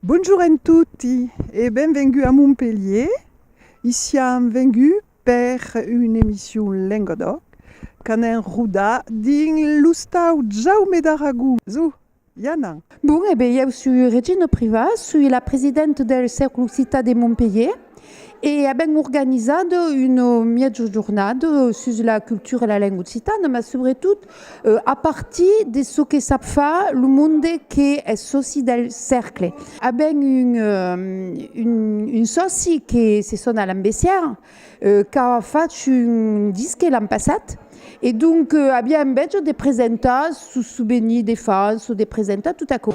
Bonjour en toti e benvengut a Montpelhier. I siam venguts per una emission Lengodoc qu'anem rodar dins l'ostau Jaume d'Aragón. Çò i anam. Bon, e ben, ieu sui Regina Priva, sui la presidenta del Cercle Occitan de Montpelhier e avèm organizat una mièja jornada sus la cultura e la lenga occitana, mas subretot A partir de çò que sap far lo monde qu'es sòci del Cercle. A ben un sòci que se sona Alain Bessière qu'a fach un disque l'an passat e donc aviá enveja de presentar sos souvenirs de fans o de presentar tot aquò.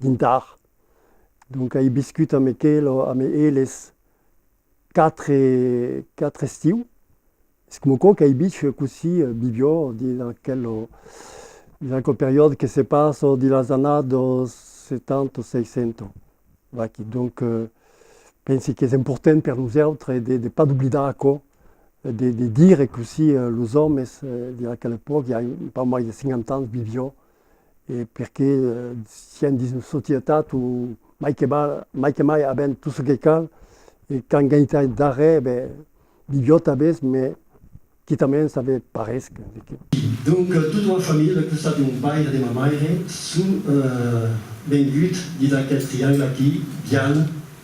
dintar. Donc ai biscut amb aquelo, amb eles quatre, quatre estiu. Es coma quò qu'ai bich cossí Bibiò dins aquelo, dins aquel periòde que se passa dins las annadas setanta, seisanta. Vaquí, donc pensi qu'es important per nosautres de, de pas d'oblidar aquò, de, de dire cossí los òmes dins aquela epòca, i ai pas mai de 50 ans, Bibiò, e perqué sián dins una societat o mai que mai que mai avèm tot çò que cal e qu'an genitai darrèr e ben milhor tanbés me quitament ça me parés que. Donc tota ma familha al costat de mon paire de ma maire son vengut dins aquel triangle aquí, Viana,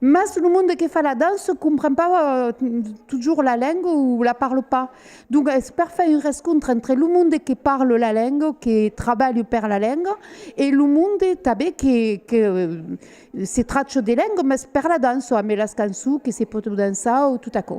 Mas lo monde que fa la dança compren pas totjorn la lenga o la parle pas. Donc es per far un rescontre entre lo monde que parle la lenga, que trabalhe per la lenga e lo monde tanben que que se tracha de lenga mas per la dança ambe las cançons que se pòdon dançar o tot aquò.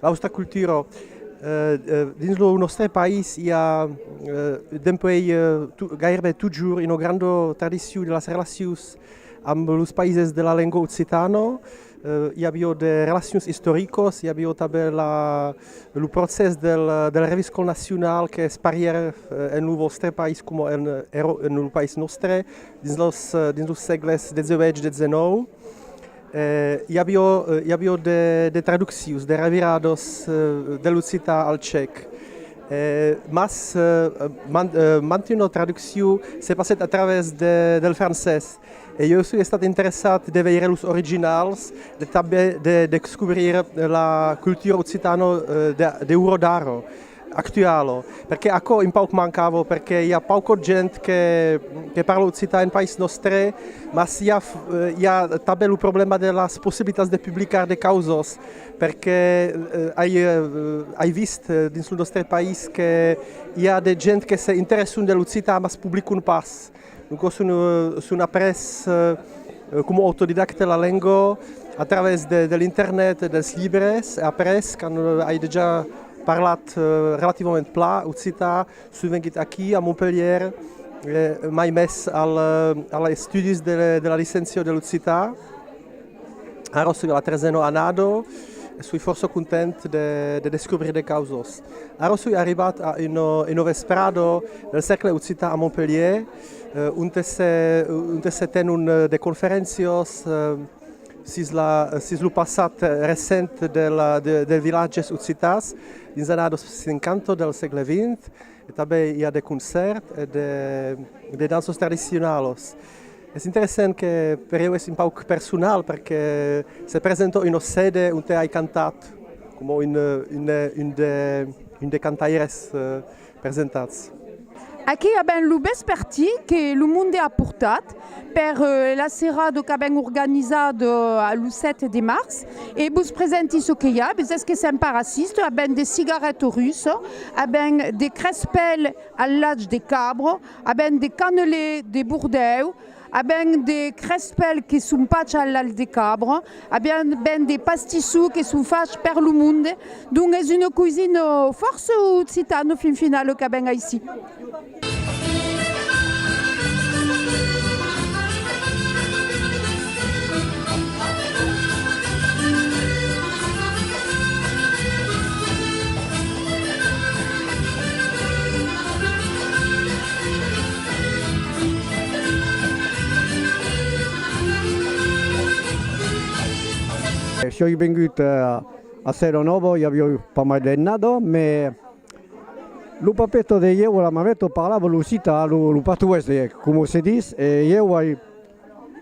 Austa cultura. Dins lo nòstre país i a dempuèi gaireben totjorn una granda tradicion de las relacions amb los païses de la lenga occitana. I aviá de relacions istoricas, i aviá tanben lo procès del reviscon nacional qu'es parièr en lo vòstre país coma en lo país nòstre dins los sègles xviii-xix. I avió, i avió de, de traduccions, de revirados de l'occitan al cèc. Mas man, mantuna traduccion se passèt a travèrs de, del francés. E ieu soi estat interessat de veire los originals, de tanben de descobrir la cultura occitano de, de Urodaro. actualo, perque aquò un pauc mancava, perque i a paucot gent que parla occitan en país nòstre, mas i a tanben lo problèma de las possibilitats de publicar de causas, perque ai vist dins lo nòstre país que i a de gent que se interesson de l'occitan mas publicon pas. Lo cors son après coma autodidacta la lenga a travèrs de l'internet e dels libres. Après quand ai dejà parlat relativament plan occitan son vengut aquí a Montpelhièr mai mes als estudis de la licencia de l'occitan. Ara soi a la trezena annada e soi fòrça content de descobrir de causas. Ara soi arribat a una vesprada del Cercle Occitan a Montpelhièr onte se tenon de conferéncias sus lo passat recent dels vilatges occitans dins las annadas 50 del sègle xx e tanben i a de concèrts e de danças tradicionalas. Es interessant que per eu es un pauc personal perque se presenta un ocd onte ai cantat coma un de cantaires presentats. Aqui avèm lo vespertí que lo monde a portat per la serada qu'avèm organizat lo 7 de març e vos presenti çò que i a, vesètz que sèm pas raciste, avèm de cigarèt russe, avèm de crespèl al lach de cabra, A ben de cannelés de Bordèu, a ben de crespèls que son fachs a l'alh de cabra, a ben de pastissous que son fachs per lo monde. Donc es una coisina fòrça occitana fin finala qu'a ben aicí. Soi vengut a Sèro Novo, i avioi pas mai d'annada, me lo papeto de ieu e la mameta parlavan l'occitan, lo patois de ieu, coma se dis, e ieu ai